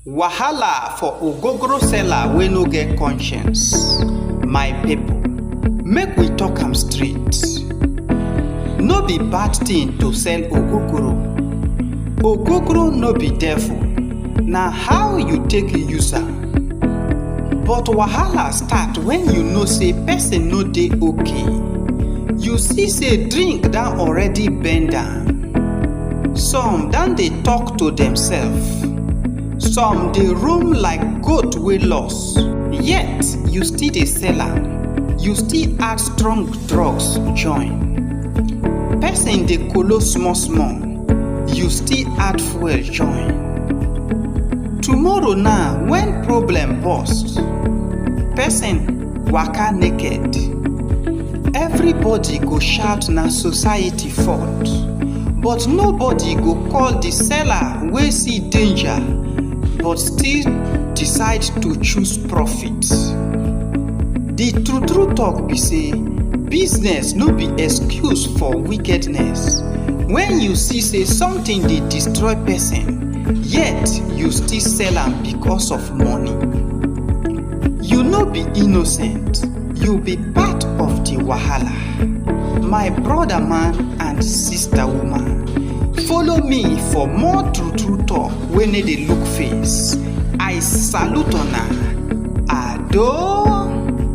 Wahala for ogogoro seller wey no get conscience. My people, make we talk am straight. No be bad thing to sell ogogoro. Ogogoro no be devil, na how you take use am. But wahala start when you know say person no dey okay. You see say drink don already bend am. Some don dey talk to themselves. Some dey roam like goat wey lost. Yet you still dey sell am. You still add strong drugs join. Person dey kolo small small. You still add fuel join. Tomorrow now when problem burst, person waka naked. Everybody go shout na society fault, but nobody go call the seller wey see danger but still decide to choose profit. The true true talk be say business no be excuse for wickedness. When you see say something dey destroy person, yet you still sell am because of money. You no be innocent, you be part of the wahala. My brother man and sister woman, follow me for more true true talk wey no dey look face. I salute una. Ado.